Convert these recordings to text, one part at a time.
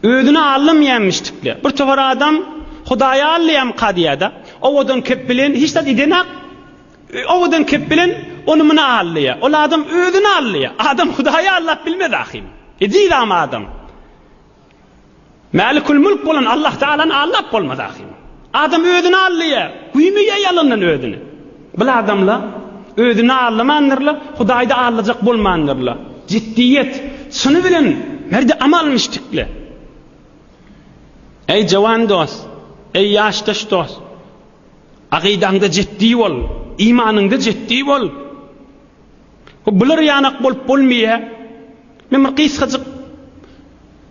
Özüne allym ýämişdikle. Bir topar adam Hudaýa allyam kadyýada. Owadan kep bilen hiç zat idenak. Owadan kep bilen ony muna allyýa. Ol adam özüne allyýa. Adam Hudaýa allap bilmez ahim. Edil am adam. Mälikül Mülk bolan Allah Taalany aldap bolmaz ahim. Adam özüni aldaýar, güýmeýär ýalandan özüni. Bil adamlar özüni aldamandyrlar, Hudaýda aldajak bolmandyrlar. Jiddiýet, çyny bilen merde amal müşdikler. Eý jowan dost, eý ýaşdaş dost, agydaňda jiddi bol, imanyňda jiddi bol. Bu bular ýanak bolup bolmaýa. Men bir gysgajyk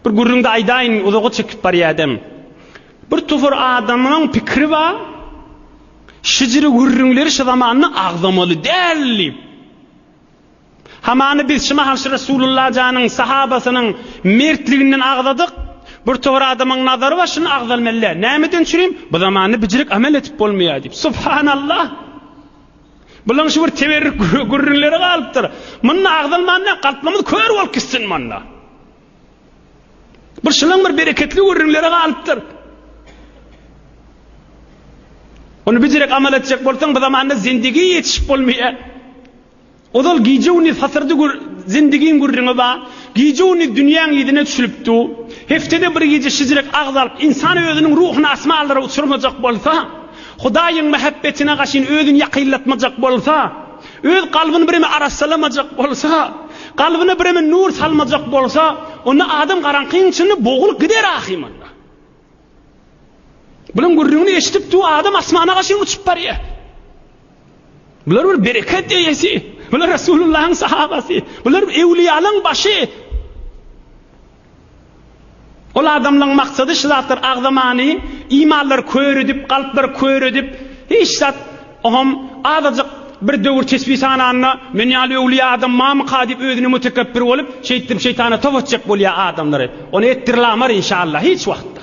bir gürrüňde aýdaýyn, uzaga çekip barýadem. Bir topar adamyň pikiri bar, şijiri gürrüňleri şu zamanda agzamaly däl diýip. Hamany biz şu mahal şu Resulullah janyň sahabasynyň mertliginden agzadyk. Bir topar adamyň nazary bar, şuny agzalmaly däl. Nämeden çürim? Bu zamanda bijirik amel edip bolmaýa diýip. Subhanallah! Bulan şu bir teberrük gürrünlere galypdyr. Munda agzalman näk galpmamyz kör bolup gitsin munda. Bir şulan bir bereketli gürrünlere galypdyr. Onu bir direk amal etjek bolsaň bu zamanda zindigi yetişip bolmaýar. Ozal gije güni satyrdy gür, zindigin gürrüňi ba. Gije güni dünýäň ýedine düşülipdi. Heftede bir gije şizirek agzalyp insan özüniň ruhuny asmanlara uçurmajak bolsa, Hudaýyň mähebbetine gaşyn özüni ýakynlatmajak bolsa, öz kalbyny bireme arassalamajak bolsa, kalbyna bireme nur salmajak bolsa, onda adam garaňkyň içinde bogulyp gider ahym onda. Bulan gürrüňini eşidip du adam asmana gaşyn uçup barya. Bular bir bereket eyesi. Bular Resulullah'ın sahabası. Bular evliyalın başı. Ol adamlaň maksady şu zatlar agzamany, imanlary kör edip, kalplary kör edip, hiç zat oňam azajyk bir döwür tesbi sananda men ýaly öwliýa adam mamyka diýip özüne mutekebbir bolup şeýtdirip şeýtana top atjak bolýa adamlary. Ony etdirlamar inşallah hiç wagtda.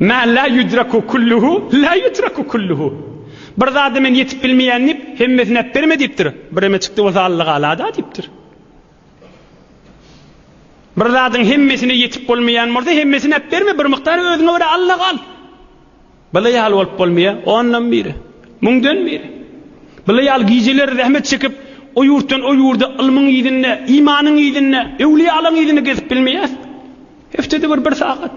Mä lä ýudraku kulluhu lä ýutraku kulluhu, Bir zada men ýetip bilmeýän diýip, hemmesini äpberme diýipdir. Bireme çykdy bolsa Allagala-da diýipdir. Bir zadyň hemmesine ýetip bolmaýan bolsa, hemmesini äpberme, bir mukdar özüňe görä Alla gal. Bula ýaly bolup bolmaýa, ondan biri, müňden biri. Bula ýaly gijeler zähmet çekip, o ýurtdan o ýurda ylmyň yzynda, imanyň yzynda, öwliýalaň yzynda gezip bilmeýäs. Heftede bir bir sagat.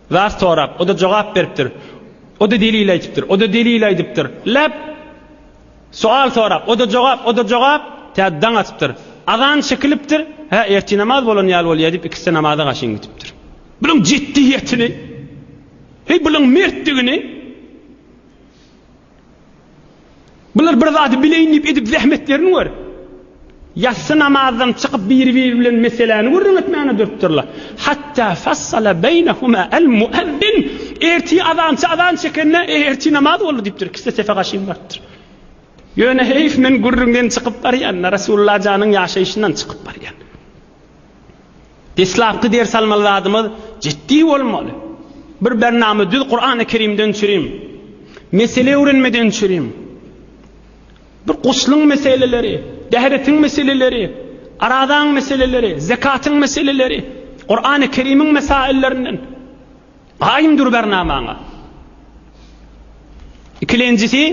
Zat sorap, o-da jogap beripdir. O-da delil aýdypdyr, o-da delil aýdypdyr. Lep! Sual sorap, o-da jogap, o-da jogap. Tä daň atypdyr. Azan çekilipdir. Hä, ertir namaz bolan ýaly bolýa diýip, ikisi-de namaza gaşyn gidipdir. Bunuň jiddiýetini, heý, bunuň mertdigini. Bular bir zady bileýin diýip edip zähmetlerini gör. Ýassy namazdan çykyp biri-biri bilen meseläni gürrüň etmäne durupdyrlar. Hatda fassala beýnehuma al-muezzin. Ertir azançy azan çekende, eý, ertir namaz boldy diýipdir. Ikisi-de sefe gaşyn barypdyr. Ýöne heýf, men gürrüňden çykyp barýan-da, Resulullah janyň ýaşaýşyndan çykyp barýan. Deslapky ders almaly zadymyz jiddi bolmaly. Bir bernama düz Kurany Kerimden düşüriň. Mesele öwrenmeden düşüriň. Bir guslyň meseleleri, dähretiň meseleleri, arazaň meseleleri, zekatyň meseleleri, Kurany Kerimiň mesaillerinden. Gaýym dur bernamaňa. Ikilenjisi,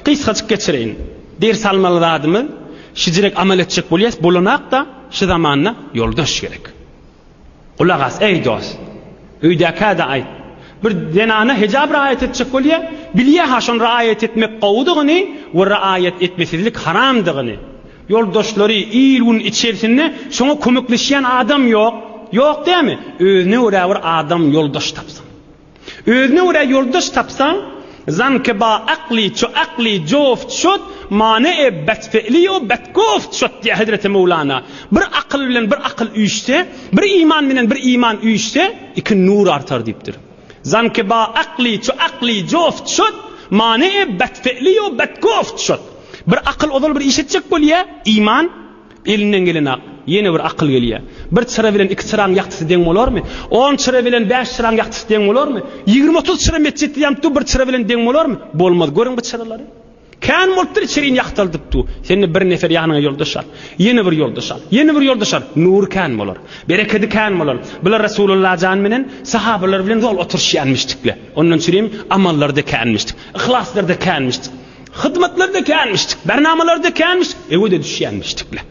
gysgajyk geçireýin. Ders almaly zadymyz, şijirek amal etjek bolýas, bolanak-da, şu zamanda ýoldaş gerek. Gulak as, eý dost. Öýdäkä-de aýt. Bir zenana hejap raýat etjek bolýa, bilýä-ha şony raýat etmek gowudygyny we raýat etmesizlik haramdygyny. Ýoldaşlary il-gün içersinde şoňa kömekleşýän adam ýok. Ýok dämi? Özüne görä bir adam ýoldaş tapsyn. Özüne görä ýoldaş tapsaň, Zankyba akly ço akly joft şot, mane e bet fe'li o bet goft şot diýýär hezreti Möwlana. Bir akyl bilen bir akyl üýşse, bir iman bilen bir iman üýşse, iki nur artar diýipdir. Zanki ba akli ço akli jof çot mane e bet fe'li yo bet gof çot Bir akyl ozal bir iş etjek bolýa, iman, elinden gelenak, ýene bir akyl gelýä. Bir çyra bilen iki çyraň ýagtysy deň bolarmy? On çyra bilen bäş çyraň ýagtysy deň bolarmy? Ýigrimi-otuz çyra metjetde ýanyp dur bir çyra bilen deň bolarmy? Bolmaz. Görüň bu çyralary. Kän bolupdyr içeriýini ýagtaldyp dur. Sen-de bir nefer ýanyňa ýoldaş al. Ýene bir ýoldaş al. Ýene bir ýoldaş al. Nury kän bolar. Berekedi kän bolar. Bular Resulalla jan menen sahabalar bilen zol oturyşýanmyşdykle. Ondan çürim amallarda känmişdik. Yhlaslarda känmişdik. Hyzmatlarda känmişdik. Bernamalarda känmişdik. Ewe-de düşýänmişdikle.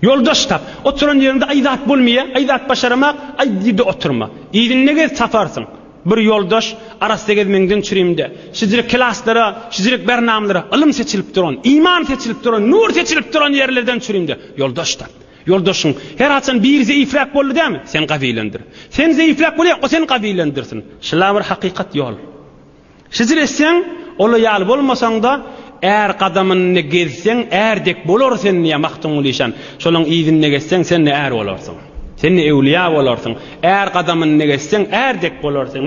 Ýoldaş tap. Oturan ýeriňde aý zat bolmaýa, aý zat başaramak, aý dide oturma. Yzynda gez taparsyň. Bir ýoldaş arassa gezmegiňden çürimde. Şijirek klaslara, şijirek bernamalara, ylym seçilip duran, iman seçilip duran, nur seçilip duran ýerlerden çürimde. Ýoldaş tap. Ýoldaşyň her haçan biri zeýifräk boldy dämi? Sen gawylandyr. Sen zeýifräk bolýaň, o seni gawylandyrsin. Şlabir hakykat ýol. Hijr etseň, ola ýaly bolmasaň-da, är gadamynda gezseň, är dek bolar sen, diýýär Magtymguly şan. Şolaň yzynda gezseň, sen-de är bolarsyň. Sen-de öwlüýä bolarsyň. Är gadamynda gezseň, är dek bolar sen.